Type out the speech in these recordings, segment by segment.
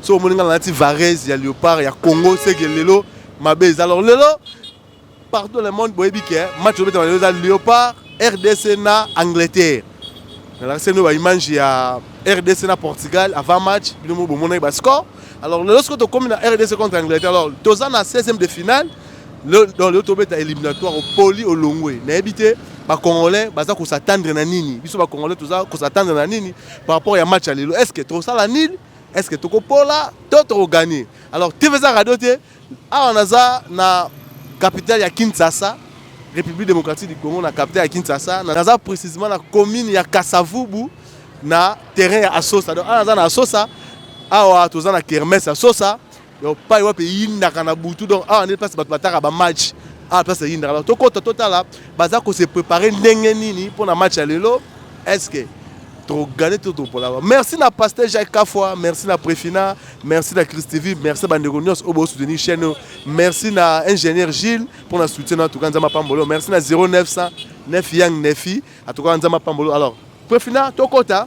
soki omoni ngai nalati varese ya leopard ya congo seke lelo mabe eza alors lelo partout le monde boyebi ke match obetama lelo eza leopard rdc na angleterre nalakisi bino baimage ya rdc na portugal avant match bino mo bomonaki bascore alors lelo soki tokomi na rdc contre angleterre alors toza na 16e de finale donc lelo tobeta éliminatoire opoli olongwe nayebi te bacongolais baza kosatandre na nini biso bacongolais toza kosatandre na nini par rapport ya match ya lelo est ce que tosala nini est ce que toko pola to toko gagner alors TV za radio te awa naza na capitale ya Kinshasa République démocratique du Congo na capitale ya Kinshasa naza précisément na commune ya Kasavubu na terrain ya Asosa donc awa naza na Asosa awa toza na kermesse ya Asosa Donc pai wapi eyindaka na butu donc awa nde place bato bataka ba match awa place eyindaka donc tokota totala baza ko se préparer ndenge nini mpo na match ya lelo est-ce que togane to topolaka merci na pasteur jacques kafwa merci na prefina merci na christivi merci na bandeko nyonso oyo bosoutenir chaîne oyo merci na ingénieur gilles mpo na soutien na atuka nzambe apambolo merci na 0900 9 yang nefi atuka nzambe apambolo alors prefina tokota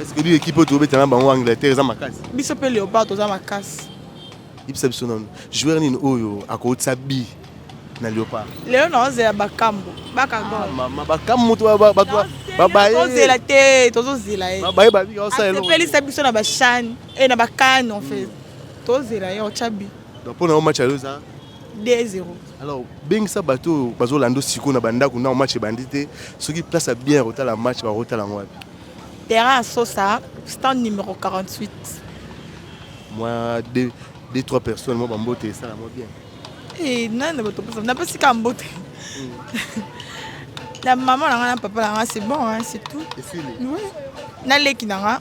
Est-ce que lui équipe tu obeta na bango Angleterre eza makasi? Biso pe Leopard toza makasi. Ibisa biso nanu. Joueur nini oyo akotisa bi na Leopard? Leo na ozela bakambo. Baka go. Ah, mama bakambo to ba ba ba ba. Tozela te, tozozela ye. Ba ba ba bi osa elo. Pelisa biso na ba chan et na ba kan en fait. Hmm. Tozela ye ochabi. Donc pour na match à loza 2-0. Alors bengisa bato oyo bazolanda siko na bandako na match ebandi te soki place ya bien rota la match barota lango wapi Terrain ya Sosa, stand numero 48. Mwa deux, deux trois personnes mwa bambote esala mwa bien. Eh, nani na bato posa napesi ka mbote na mama na nga na papa na nga c'est bon hein, c'est tout Esili. Oui. na leki na nga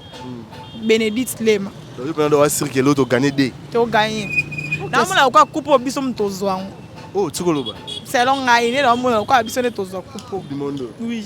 benedite lema Oyo pena do asirke l'autre gagner des. toganye naomona lokola kupe oyo biso moto tozwa yango Oh, tikoloba. selon ngai nde naomona lokola biso nde tozwa kupe oyo. Du monde. oui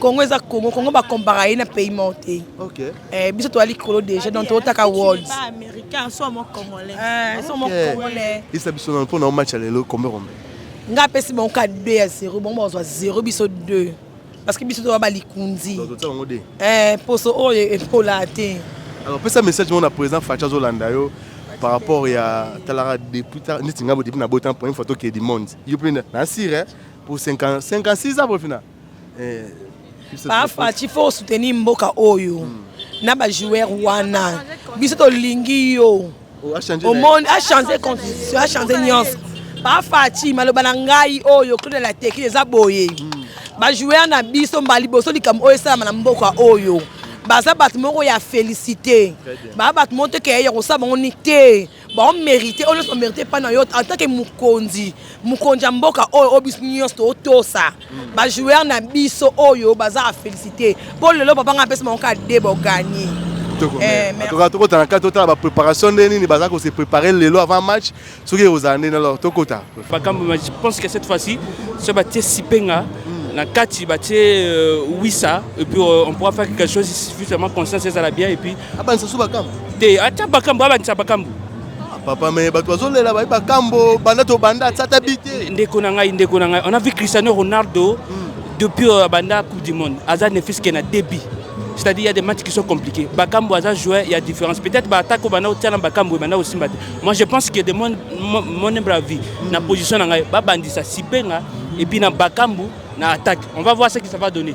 Congo eza Congo, Congo ba compara ye na pays mort te. Okay. Eh biso to ali kolo déjà donc to taka world. Ba américain so mo congolais. Eh so mo congolais. Isa biso na pona match lelo kombe kombe. Nga pesi bon ka 2 à 0, bon ba 0 biso 2. Parce que biso to ba likundi. Donc to ngo 2. Eh poso oyo oh, epola te. Alors pesa message mon président Facha Zolanda yo par rapport ya talaka depuis neti nga bo depuis na botan pour une photo qui est du monde. Yo pe na sire eh, pour 50 56 ans pour final. Papa Fatshi faut soutenir mboka oyo hmm. na ba joueurs wana biso tolingi yo oh, omoni achange constitution achange nyonso Papa Fatshi maloba na ngai oyo Claude la teki eza boye hmm. ba joueurs na biso mbala liboso likambo oyo esalama na mboka oyo baza bato moko ya félicité baa bato moko te keyaya kosala bango ni te bao merite oyo nyonso merite epai na yo atake mokonzi mokonzi ya mboka oyo oyo biso nyonso totosa mm. bajoueur na biso oyo baza a félicité mpo lelo papa ngai apesi bango kaka de boganie eh, tokota na kati totala bapreparation nde nini baza kose prépare lelo avant match soki ekozala ndeni alors tokota makambo je pense que cette fois-ci so batie sipenga mm. na kati batie euh, wisa et puis euh, on pourra faire quelque chose suffisamment conscience ezala bien et puis abandisa so bakambo te ata bakambo abandisa bakambo ah, papa me bato bazolela baye bakambo banda tobanda atata bi te ndeko na ngai ndeko na ngai on a vu cristiano ronaldo hmm. depuis euh, banda coupe du monde aza ne fils que na débit c'est-à-dire il y a des matchs qui sont compliqués bakambo aza joueur il y a différence peut-être baattaque oyo banda otiana bakambo banda osimba te moi je pense que de mon, mon, mon humble avis hmm. na position na ngai babandisa sipenga et puis na bakambo na attaque on va voir ce que ça va donner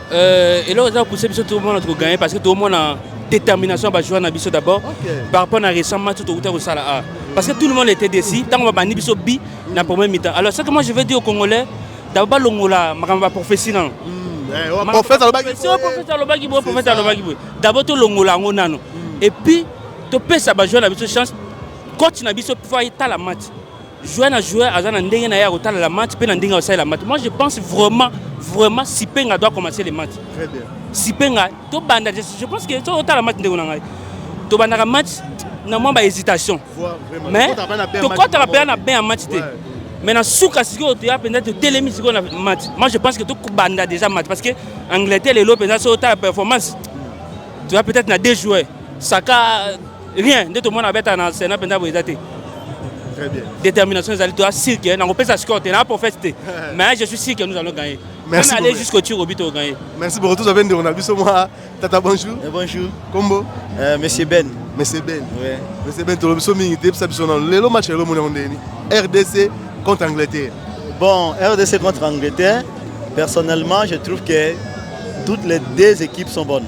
Euh, eloko eza kopousse biso tomona tokoganye parce que tomona détermination ya bajoueur na biso d'abord par rapport na récent match oyo tokouta kosala a parce que tout le monde était déci ntango babandi biso bi na premier mi-temps alors ce que moi je veux dire au congolais dabo balongola makambo ya prophétie nano prophète alobaki boye prophète alobaki boye dabo tolongola yango nano et puis topesa bajoueur na biso chance coach na biso mpo ayetala match Joueur na joueur aza na ndenge na ye akotala la match mpe na ndenge akosala la match. Moi je pense vraiment vraiment Sipenga doit commencer le match. Très bien. Sipenga tobanda je pense que soki otala match ndenge na ngai tobandaka match na mwa bahésitation mais tokɔtaka mpenza na bain ya match te mais na suka sikoyo toya mpenza totelemi sikoyo na match moi je pense que tokobanda déjà match parce que angleterre lelo mpenza soki otala performance toya peut-être na deux joueurs saka rien nde tomona abeta na sena mpenza boye eza te détermination ezali toya sir ke nakopesa score te na prophète te mais je suis sir que nous allons gagner Merci aller jusqu'au tir au but au gagner. Merci beaucoup tous avez ndeko na biso moi tata bonjour. Et eh, bonjour. Combo. Euh, monsieur Ben. Monsieur Ben. Ouais. Monsieur Ben tolo biso mingi te biso na lelo match lelo mona ndeni. RDC contre Angleterre. Bon, RDC contre Angleterre, personnellement, je trouve que toutes les deux équipes sont bonnes.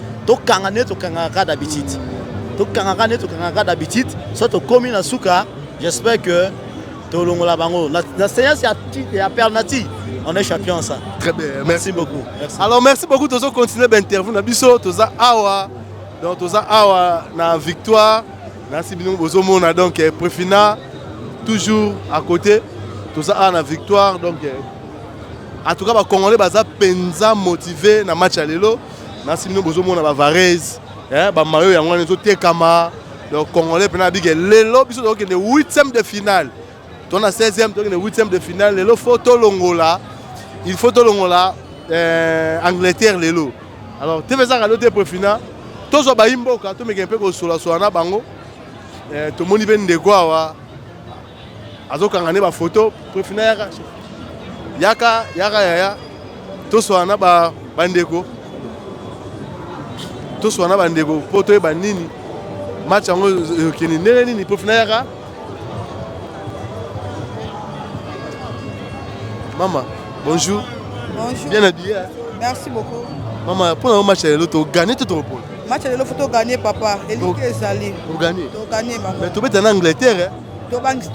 tokanga nde tokangaka kaka d'habitude tokangaka nde tokangaka kaka d'habitude so tokomi na suka j'espère que tolongola bango na seance ya perle nature on est champion ça très bien merci, merci beaucoup merci. alors merci beaucoup tozo continuer bainterview na biso toza awa donc toza awa na victoire nasi bino bozomona donc eh, prefina toujours à côté toza awa na victoire donc eh, en tout cas bacongolais baza mpenza motive na match ya lelo nasi bino bozomona bavarese eh, bamayo yango wana ezotekama donc congolais mpena abike lelo biso tokokende 8 de finale to na 16e tokende 8 de finale lelo fo tolongola il faut tolongola eh, angleterre lelo alors tv ezaka lelo te prefina tozwa bayi mboka tomekee mpe kosolasola na bango eh, tomoni mpe ndeko awa azokanga nde bafoto prefina yaka yaka yaka yaya toswana na bandeko toswana na bandeko mpo toyeba nini match yango ekende ndenge nini prefina yaka mama bonjour bonjour bien habillé merci beaucoup mama mpo na yo match ya lelo togane to tokopona match ya lelo fo togane papa eliki ezali togane togane mama tobeta na angleterre tobangisi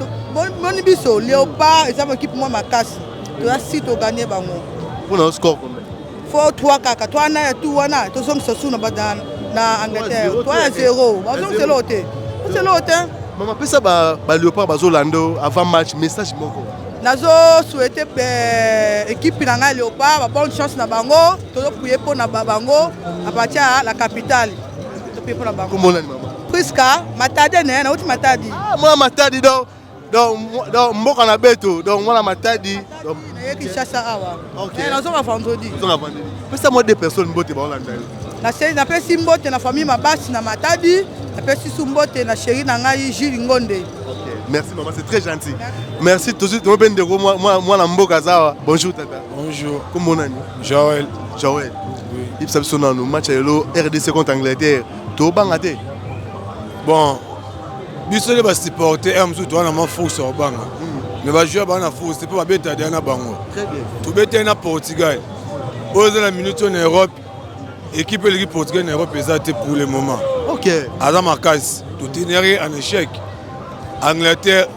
boni biso leopard eza mokipe mwa makasi toza si toganye bango mpona score combien fo 3 kaka to wana ya tu wana tozongisa su na badana na angleterre to ya zero bazongisa eloko te ozongisa eloko te mama pesa baleopard bazolanda avant match message moko nazo souhaite ekipe na ngai leopard babonne chance na bango tozopuye mpo na bango apartir ya la capitale topuye mpo na bango Prisca Matadi ne nauti Matadi. Ah mwana Matadi donc donc donc mboka na beto donc mwana Matadi donc na Kinshasa awa. OK. Eh, na zonga vendredi. Zonga vendredi. Pesa moi deux personnes mbote ba Hollande. Na sey na pesi mbote na famille Mabasi na Matadi, na pesi su mbote na chérie na ngai Jules Ngonde. OK. Merci maman, c'est très gentil. Merci tout de suite. Moi, moi, moi, mboka zawa. Bonjour tata. Bonjour. Comment on Joël. Joël. Oui. Il s'absonne nous match à l'eau RDC contre Angleterre. tobanga te bon biso nde basupporte heure mosusu towana mwa force ya kobanga me bajoueur baa na force te mpo babeta deya na bango tobeteli na portugal oyo eza na minute oyo na europe ekipe eleki portugal na europe eza te pour le moment aza makasi totenere en échec angleterre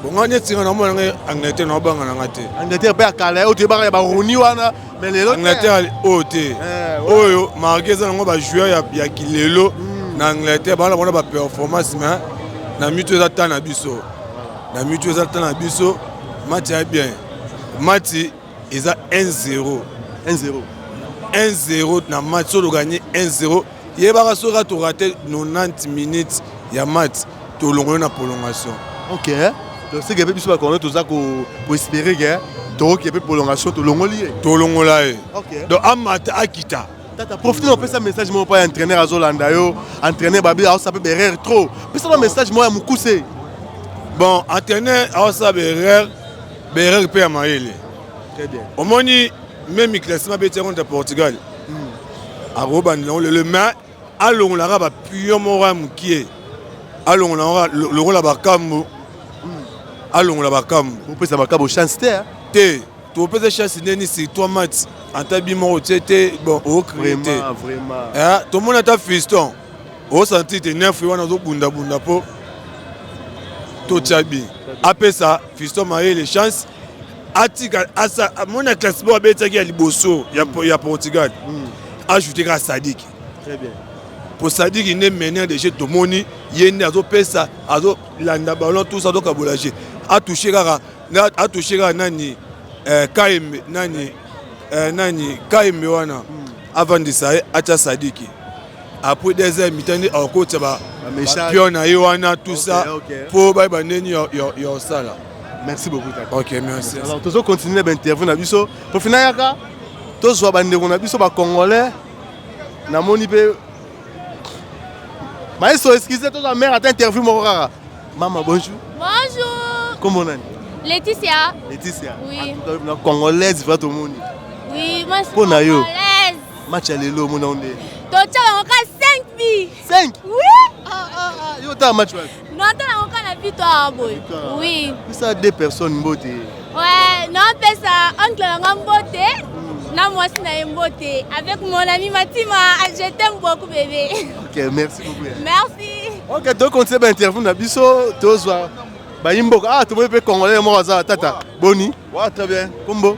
bonga neti nga na mona ngai angleterre na obanga na nga te angleterre mpe akala oyo toyebaka ya baroni wana Mais lelo Angleterre oyo te. Eh, oyo marqué eza nango ba joueurs ya, ya kilelo hmm. na Angleterre bana bana ba performance mais na mitu eza temps na biso. Na mitu eza temps na biso match ya bien. Match eza 1-0. 1-0. 1-0 na match solo gagné 1-0 yebaka soki atu rate 90 minutes ya match tolongoli na prolongation ok donc seke mpe biso bakongo toza koespere ke tokoki mpe prolongation tolongoli ye tolongola ye donc amata akita tata profite opesa message moko mpa ya entraîneur azolanda yo entraîneur babi aosa mpe berere trop pesa ba message moko ya mokuse bon entraîneur aosa berere berere mpe ya mayele omoni meme classement abeti ya contre portugal hmm. akobandela yango lelo mais alongolaka bapio moko ya mokie alongola yango lokola bakambo hmm. alongola bakambo opesa bakambo chance te te topesa chance ndeni si toi match ata bi moko tie te bon ocree te eh, tomoni ata fiston osanti te nefe wana ozobundabunda mpo totya bi apesa fiston mayele chance atika asa mona classe bo abetaki ya liboso ya, mm. ya Portugal mm. ajoute ka Sadiki très bien po Sadiki nde meneur de jeu tomoni ye nde azopesa azolanda ballon tout ça azokabola jeu atouche kaka atouche kaka nani eh, kaembe nani eh, nani kaembe wana mm. avandisa ye atya Sadiki après des heures mitani akokotisa bapion na ye wana tout ça mpo bayeba ndeni ya osala merci beaucoup tata ok merci alors tozo continuer na bainterview na biso profina yaka tozwa bandeko na biso bacongolais namoni mpe maestro excuse tozwa mare ata interview moko kaka mama bonjour bonjour kombo nani laetitia laetitia oui. na congolaise va tomoni oui, mpo na yo match ya lelo omona yo nde totya bango ka 5 bi 5 Oui Ah ah ah, yo ta match wapi Non, t'as la encore la victoire, boy. Victoire. Oui. Pesa deux personnes mbote. Ouais, non, fais ça. Oncle Langan Mbote. Non, moi, c'est Naïm Mbote. Avec mon ami Matima. Ah, Je t'aime beaucoup, bébé. Ok, merci beaucoup. ya. Merci. Ok, donc on sait ba interview na biso tozwa bayimboka. Ah, tomoni pe congolais moko aza tata. Boni? Ouais, très bien. Kombo.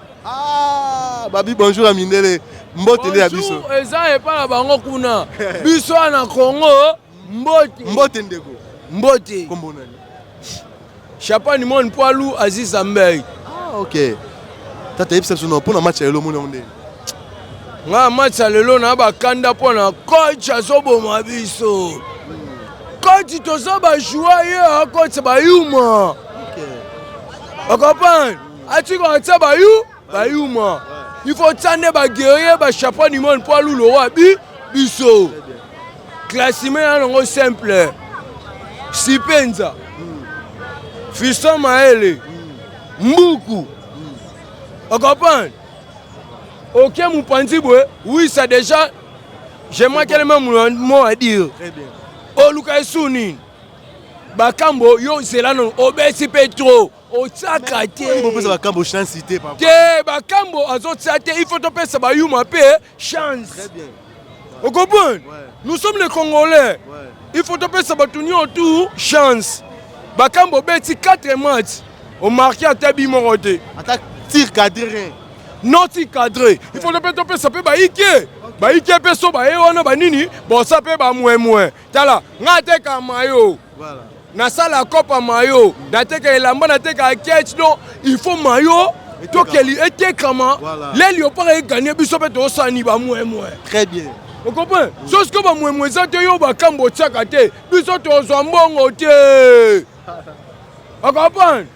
Ah, babi bonjour ya mindele mbote nde ya biso eza epai na bango kuna biso na congo mbote mbote ndeko mbote kombo nani chapa nimoni poilu aziz ambei ah, ok tata yebisa biso mpo na match ya lelo omoni yango ndenge ngai match ya lelo na bakanda mpo na coach azoboma biso koti toza bajoueur ye akoti bayuma okay. okopane atika atia bayu bayuma il faut tia nde baguerrier bachapa du monde mpo alula owa bi biso classime na nango simple sipenza fiston maele mbuku okomprendre oke mopanzi boye oui ça déjà je manquele meme mot à dire oluka esu nini bakambo yo zela nano obesi mpe trop otyaka te te bakambo azotya te il faut topesa bayuma mpe chance okompone nous sommes les congolais il faut topesa bato nio tu chance bakambo obeti 4 match omarke ata bi moko te ata tir cadre non tir cadre il faut mpe topesa mpe baike baike mpe so baye wana banini bosa mpe bamwemwe tala nga ateka mayo voilà. nasala kopa mayo nateka elamba nateka kech don il faut mayo tokeli etekama voilà. leli opaka eganie biso mpe tosani bamwemwe très bien okomprend mm. so siko bamwemwe eza te yo bakambo otiaka te biso tozwa mbongo te okomprendre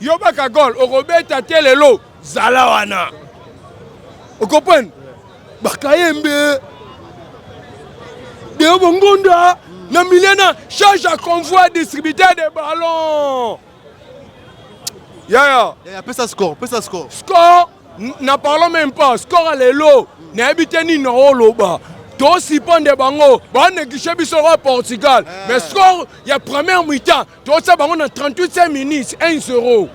Yo baka gol okobeta te lelo zala wana. Okoprendre? Bakayembe. Deo Bongonda na milieu na charge à convoi distributeur de ballon. Yaya. Yaya pesa score, pesa score. Score na parlons même pas. Score lelo nayebi te nini na oloba. tosipande bango banekishe biso oyo portugal eh. mais score ya première mi-temps Tosa bango na 38 minutes 1 0.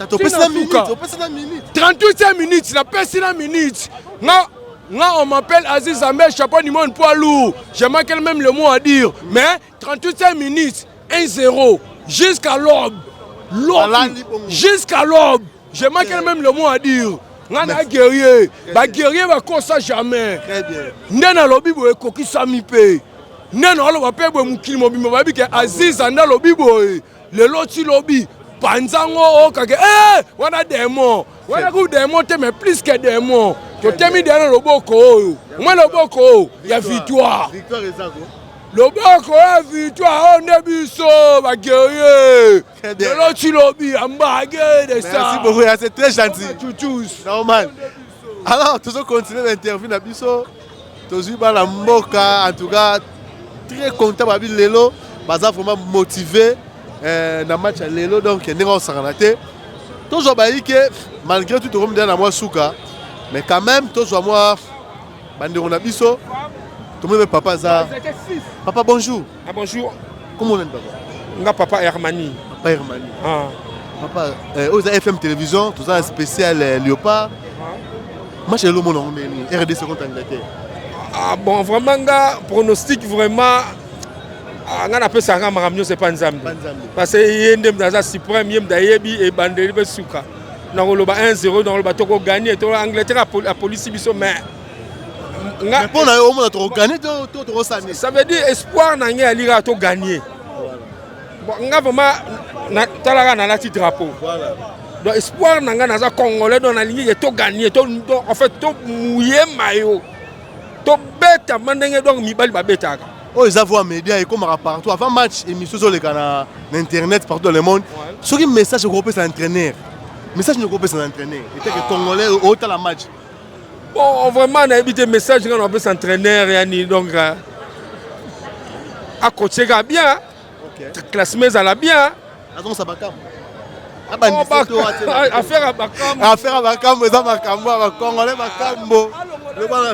Topesi na minute, topesi na minute. 38 minutes, na pesi na minute. Nga nga on m'appelle Aziz Ambe, chapeau du monde poids lourd. J'ai manqué même le mot à dire, mais 38 minutes 1 0 jusqu'à l'aube. L'aube jusqu'à l'aube. Je manque même le mot à dire. nga na guerrier baguerrier bakosa jamais nde nalobi boye ekokisami mpe nde naoloba mpe boye mokili mobimba bayebi ke aziza nde alobi boye lelo ti lobi panza ngo okake oh, e wana demon wana ku demon te mais plus que demon totemi deya na loboko oyo omwa loboko oyo ya victoire loboko ya victoire oyo nde biso baguerrier Très bien. Lelo tu lobi ambage de ça. Merci beaucoup, ya, c'est très gentil. Chouchous. Normal. Alors, tozo continuer l'interview na biso. Tozui bana mboka, en tout cas très content babi lelo, baza vraiment motivé euh, na match ya lelo donc ndenge osangana te. Tozwa bayi ke malgré tout tokomi deja na mwa suka, mais quand même tozwa mwa bandeko na biso. Tomoni pe papa aza. Papa bonjour. Ah bonjour. Comment on papa? Nga papa Hermani. Papa Hermani. Ah. Papa, euh, aux FM télévision, tout ça spécial euh, Léopard. Ah. Match le monde en RDC contre Angleterre. Ah bon, vraiment nga pronostic vraiment ah, nga napesa nga makambo nyonso epa nzambe parce que ye nde mda aza suprême ye mda ayebi ebandeli mpe suka nakoloba 1 0 nakoloba tokoganie to angleterre apolisi biso mais mpo na yo omona tokoganye to tokosani ça veut dire espoir na ngai yali kaka toganye nga vraiment talaka nalati drapeau donc espoir na ngai naza congolais donc nalingi ke toganye en fait tomouye mayo tobetama ndenge donc mibali babetaka oyo eza voa média ekomaka partout avant match émission ezoleka na internet partout dans le monde soki message ekopesa entraîneur message nokopesa na entraîneur eteke congolais otala match Bon, vraiment, na évité message nga na pesa entraîneur yani donc euh, a coacher ka bien. Okay. Classement ezala bien. Azon sa bakam. Abandi oh, to ate. Affaire à bakam. Affaire à bakam eza makambo ba congolais makambo.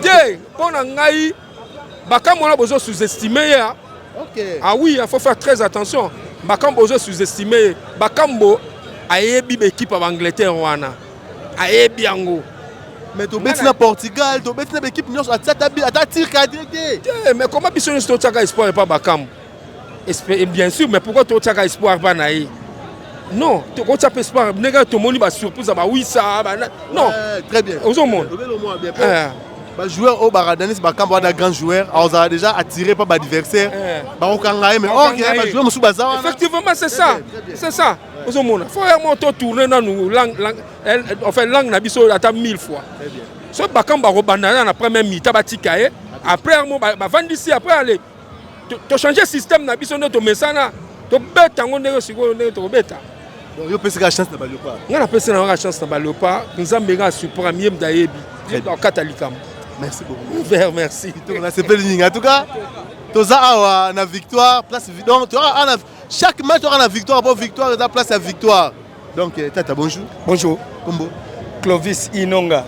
Te, pona ngai bakam wana bozo sous-estimer ya. Okay. Ah oui, il faut faire très attention. Bakam bozo sous-estimer. Bakambo ayebi ba équipe à Angleterre wana. ayebi yango mais tobeti na portugal tobeti na baekipe nyonso ata tir cadre te te mais koma biso nyonso totyaka espoir epa bakambo bien sûr mais pourquoi totyaka espoir mpa na ye non tokotya mpe espoir ndenge tomoni basurprise ya bawisa non ozomona bajoueur oyo baradanisi bakambo wana grand joueur azala déjà attiré mpa baadversaire bakokanga ye mais or bajoueur mosusu baza wana effectivement c'est ça c'est ça ozo mona fo ya moto tourner nanu langue eh, enfin langue na biso ata 1000 fois so bakam ba kobanda na premier mi-temps batika ye après mo bavandisi après aller to changer système na biso nde tomesana tobeta yango ndenge sikoyo ndenge tokobeta Donc, yo peseka chance na baleopa nga napesi na nga chance na baleopa nzambe nga asupra mie mdayebi akata likambo merci beaucoup ver merci nasepeli nyingi en tout cas toza awa na victoire place donc toza awa Chaque match aura la victoire pour victoire la place à victoire. Donc euh, tata bonjour. Bonjour. Combo. Clovis Inonga.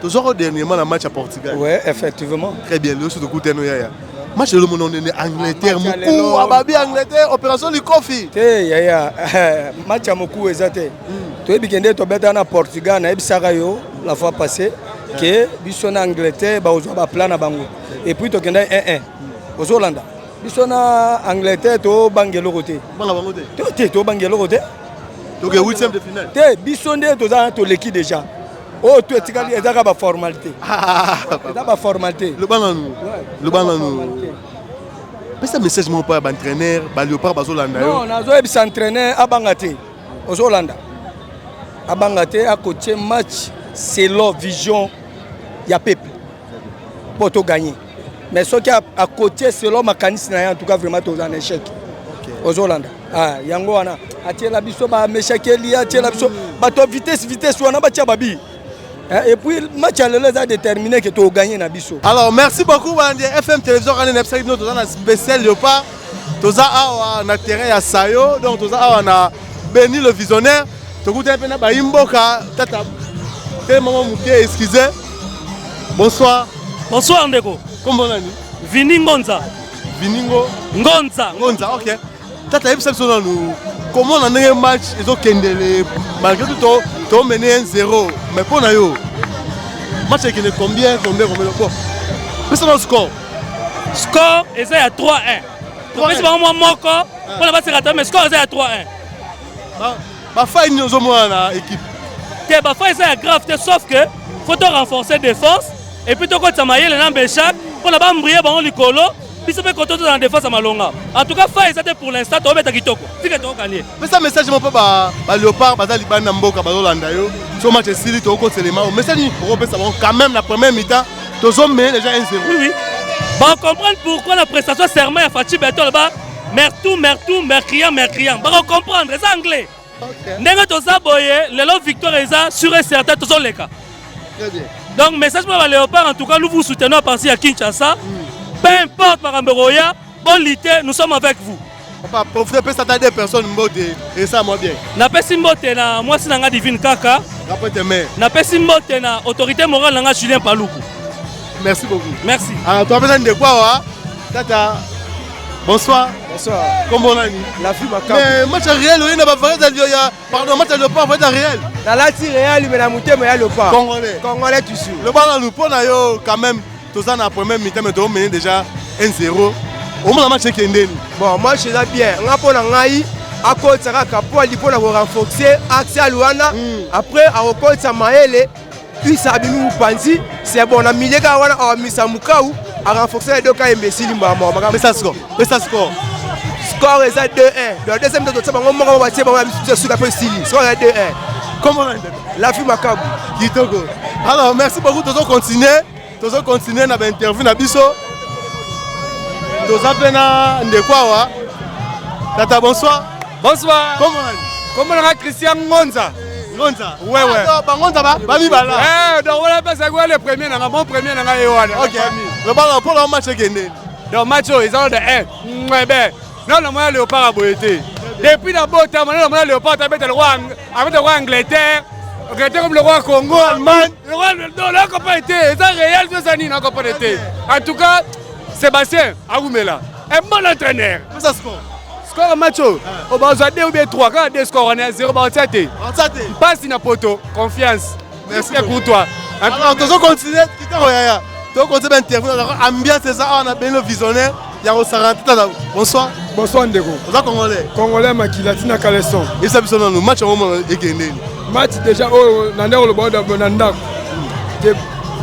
Toujours dernièrement la match à Portugal. Ouais, effectivement. Très bien, le sou de Kouteno Yaya. Match le monde en ah, Angleterre, Moukou, Ababi Angleterre, opération du Kofi. Te Yaya, match à Moukou ezate. Hmm. Tu es bikende to beta na Portugal na ebisaka yo la fois passée que biso na Angleterre ba ozwa ba plan na bango. Et puis to kenda 1-1. Ozolanda. biso na angleterre tobanga eloko te te tobanga eloko te te biso nde toza toleki déjà oyo oh, to etikali ezaka baformalité eza baformalité pesa message moko mpo ya baentraîneur baleopard bazolanda yo nazoyebisa entraîneur abanga te ozolanda abanga te akotie match selon vision ya peuple mpo toganye mais soki akotie selon makanisi na ye en tout cas vraiment toza na échec ozolanda ah, yango wana atiela biso bameshakeli atiela biso bato vitesse vitesse wana batia babi eh, et puis match ya lelo eza déterminé ke togagne na biso alors merci beaucoup balandi fm télévision rane na bisaki bino toza na spécial leopard toza awa na terrain ya sayo donc toza awa na beni le visionnaire tokutani mpe na bayi mboka tata te mama moke excuse bonsoir bonsoir ndeko kombo nani vini ngonza viningo ngonza ngonza ok tata yebisa biso nanu komona ndenge match ezokendele malgré tout tomene ye zero mais mpo na yo match ekende combien combien combien bon pesa na score score eza ya 3-1 topesi bango mwa moko ah. mpona baseka ta mais score eza ya 3-1 bafai nini ozomona na équipe te bafai eza ya grave te sauf que faut to renforcer défense et puis tokotisa mayele na mbechak mpona bambrie bango likolo biso mpe koto tozala na défense ya malonga en tout cas fai eza te pour l'instant tobeta kitoko tike tokokanie pesa message moko mpo baléopard baza libani na mboka bazolanda yo so match esili tokokotelema message okopesa bango quand même na première mitan tozo mais déjà 1 0 oui oui ba comprendre pourquoi la prestation serment ya Fatshi Beton ba mertou mertou mercrian mercrian ba comprendre eza anglais ndenge toza boye lelo victoire eza sur et certain tozo leka donc message pour ba léopard en tout cas nous vous soutenons à partir ya Kinshasa mm. peu importe makambo ekoya Bonne lutte, nous sommes avec vous. Papa, profitez pesa ata deux personnes mbote et ça moi bien. Na pesi mbote na mwasi na nga Divine Kaka. Na pete mais. Na pesi mbote na autorité morale na nga Julien Paluku. Merci beaucoup. Merci. Ah, toi pesa ndeko awa. Tata. Bonsoir. Bonsoir. Comment on a dit La fille ma Mais match réel, on a pas de Pardon, mata leopard va être réel. Na lati réel mais na mutema ya leopard. Congolais. Congolais tu suis. Le bana lupo na yo quand même toza na premier mi-temps mais to mener déjà 1-0. Au moins match ekendeni. Bon, moi je suis bien. Nga pona ngai akotisa kaka po ali pona ko renforcer axe ya Luanda. Après akokotisa Maele Isa abimi mupanzi c'est bon na milieu kaka wana awamisa mukau a renforcer les deux cas imbécile mbaa moko makambo pesa score pesa score score eza 2-1 donc deuxième tototia bango moko batie bango na bisu suka mpe esili score eza 2-1 comment la vie makabu kitoko alors merci beaucoup tozo continuer tozo continuer na bainterview na biso toza mpe na ndeko awa tata bonsoir bonsoir kombo nanga christian ngonza ngonza wewe ah, bangonza babibala eh, donc wana mpesa yango le premier nanga mon premier nanga ye wana lobaka mpo na match ekendeni donc match oyo eza ode e mwebe nano na mwana leopard ya boye te depuis na botama nano na mwana leopard abeta lokola abeta lokola angleterre angleterre comme lokola congo allemagne lokola non nakopane te eza réel to eza nini nakopane te en tout cas sébastien awumela un bon entraîneur pesa score score match oyo obazwa 2 ou bien 3 kaka 2 score wana ya 0 baotia te mpasi na poto confiance Merci pour toi. Alors, tozo continuer kitoko yaya. Tozo continuer ba interview na ambiance eza awa na beno visionnaire ya kosaka tata na bonsoir. Bonsoir ndeko. Oza congolais. Congolais makila tina caleçon. Esa biso nanu match yango mona ekende. Match déjà oyo na ndeko lobo na ndako. Te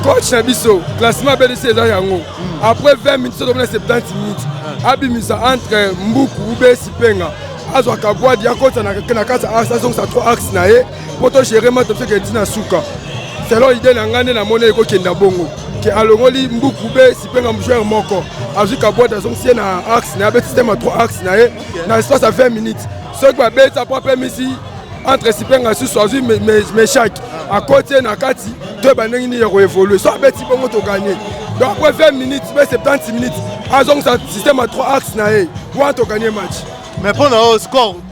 coach na biso classement abelisi eza yango. Après 20 minutes soki na 70 minutes abimisa entre mbuku ube sipenga azwaka bwadi akota na kati azongisa 3 axe na ye mpo to gérer ma topseke eti na suka selon idée na ngai nde namoni ekokenda bongo ke alongoli mbuku be sipenga mjoueur moko azwi kabwate azongisi ye na axe na ye abeti tema 3 axe na ye na espace ya 20 minutes soki babeti apo apemisi entre sipenga susu azwi meshaki akoti ye na kati toyeba ndenge nini ya koevolue so abeti bongo toganye donc après 20 minutes be 70 minutes azongisa système ya 3 axe na ye wana toganye match mais mpo na yo score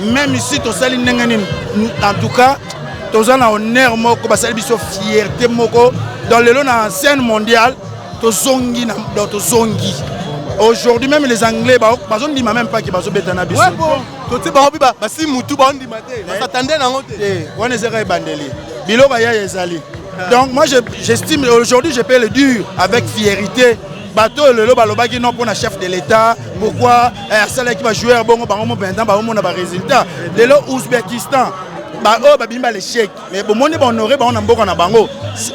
Meme ici tosali ndenge nini en tout cas toza na honneur moko basali biso fierté moko dans lelo na scène mondiale tozongi na donc tozongi aujourd'hui même les anglais bazondima même pas ke bazobeta na biso toti bango mpe basi mutu baondima te basatande nango te eh, wana ezaka ebandeli biloko ya ezali donc moi j'estime aujourd'hui je peux le dire avec fierité bato oyo lelo balobaki non mpona chef de l'état pourkui eh, asalaki bajoueur bongo bango mopenza baomona baresultat lelo ouzbekistan baoyo babimi ba l'échec mais bomoni bahonore bango na mboka na bango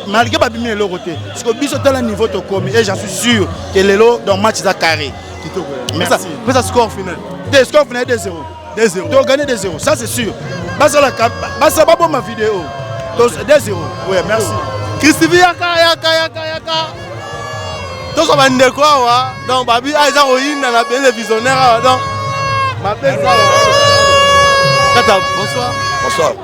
malgré babimi na eloko te siko biso tala niveau tokomi et j'en suis sûr que lelo donc match eza carré pesa score final te score final 2 0 2-0. To gagner 2-0, ça c'est sûr. Basala basa babo ma vidéo. 2-0. Ouais, merci. Christivi yaka yaka yaka yaka. Tozo bande ko awa. Donc babi a ah, eza koyina na belle visionnaire awa. Donc ma belle. Tata, bonsoir. Bonsoir.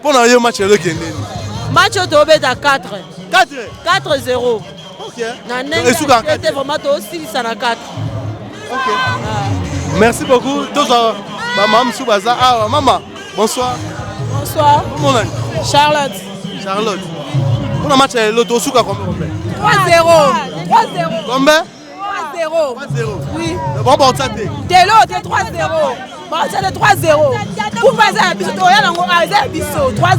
Mpo na yo match lelo ekende nini? Match oyo tobeta 4. 4 4-0. Okay. Na ndenge esuka te vraiment tosilisa na 4. Okay. Ah. Merci beaucoup. Tozwa ba mama mosusu baza awa. Mama, bonsoir. Bonsoir. Comment on a Charlotte. Charlotte. Pour le match, l'autre, au souka, combien 3-0. 3-0. Combien telo te 3-0 baotia te 3-0 kupa eza ya biso toya nango ah, eza ya biso 3-0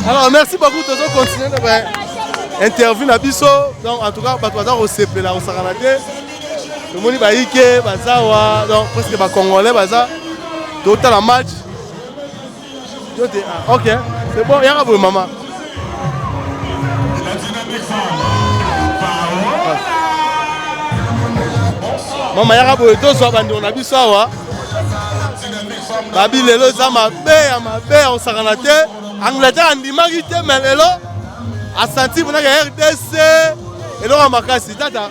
alors merci beaucoup tozo continue na ba interview na biso donc en tout cas bato baza kosepela kosakana te tomoni bayike bazawa donc presque bacongolais baza totala match Yo te ah, ok, c'est bon, yaka boye mama. Mama yaka boye tozwa bandeko na biso awa. Babi lelo eza mabe ya mabe ya kosakana te. Angleterre andimaki te mais lelo asanti mpo na rdc eloko ya makasi tata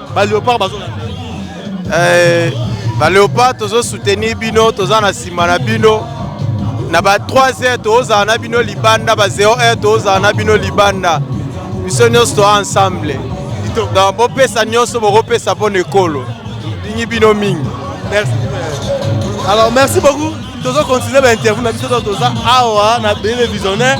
Ba Leopard bazo eh ba Leopard tozo soutenir bino toza na sima na bino na ba 3 heures tozala na bino libanda ba 0 heures tozala na bino libanda biso nyonso toa ensemble donc bopesa nyonso bokopesa mpo na ekolo ndingi bino mingi merci alors merci beaucoup tozo continuer ba interview na biso toza awa na bele visionnaire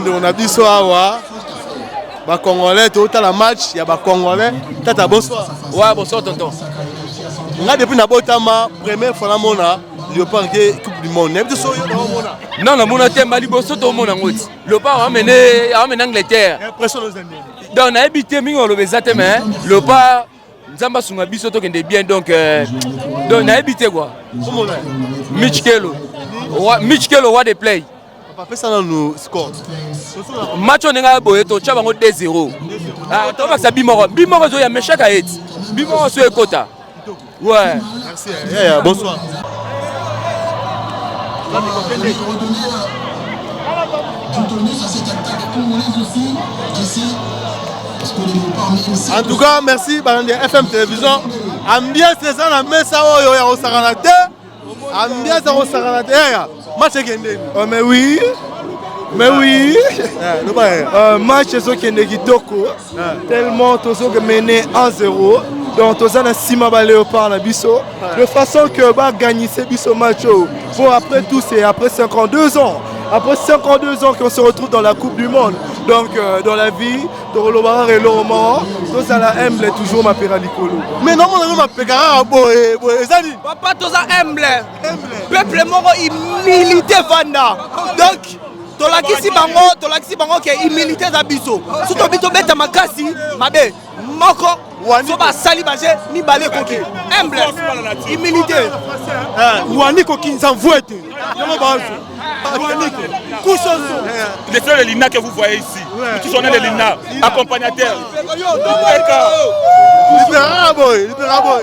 ndeko na biso awa Ba congolais to tala match ya ba congolais. Tata bonsoir. Ouais, bonsoir tonton. Nga depuis na botama première fois na mona Leopard ke coupe du monde. Nabi so yo na mona. Non, na mona te mbali boso to mona ngoti. Leopard amene amene Angleterre. Impression aux Indiens. Donc nayebi te mingi oloba eza te mais Leopard nzambe asunga biso tokende bien donc euh, donc nayebi te kua mich kelo mich kelo wa de play apesa nanu score match oyo ndenge aya boye totya bango 2 0 ah, tobakisa bimoko bimoko ezoya meshaka eti bimoko so ekota ouais Yaya, bonsoir. En tout cas, merci balandi ya FM Télévision. Ambiance eza na mesa oyo ya kosakana te. Ambiance ya kosakana te. Match ekende. Oh mais oui. Mais oui. Euh, match ezokende kitoko. Tellement tozoke mené 1-0. Donc toza na sima ba léopard na biso de façon que ba gagner biso match. Bon après tout c'est après 52 ans. Après 52 ans qu'on se retrouve dans la Coupe du Monde. Donc euh, dans la vie, tokolobaka eloko moko tozala humble toujours mapeka likolo mais namonaka mapeka kaka boye boye ezali papa toza humble peuple moko humilité vanda donc tolakisi bango tolakisi bango ke humilité eza biso so tobi tobeta makasi mabe moko so basali baje mibale ekoki humble humilité eh, wani kokinza mvuete yango bazo Le seul Elina que vous voyez ici, tout son Elina, accompagnateur. Libera boy, libera boy.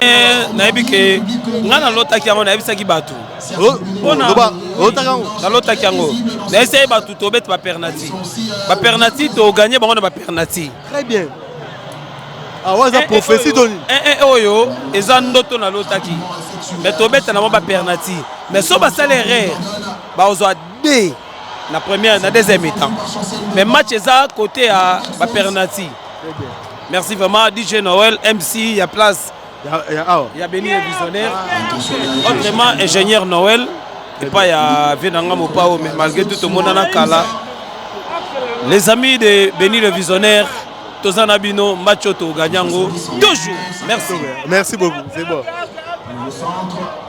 Eh, nayebi ke ngai nalotaki yango nayebisaki bato nalotaki yango nayebisaki bato tobete bapernati bapernati toganye bango na bapernati awa ah, eza eh, eh, prophesie to nini eh, oyo eza ndoto nalotaki me tobeta nango bapernati me so basala erreur bakozwa de na première na deuxième mi-temps mais match eza côté ya ba pernati merci vraiment DJ Noël MC ya place ya Beni le visionnaire autrement ingénieur Noël epai ya vie na nga mopao mais malgré tout tomonana kala les amis de Beni le visionnaire toza na bino match oyo toganya yango toujours merci merci beaucoup c'est bon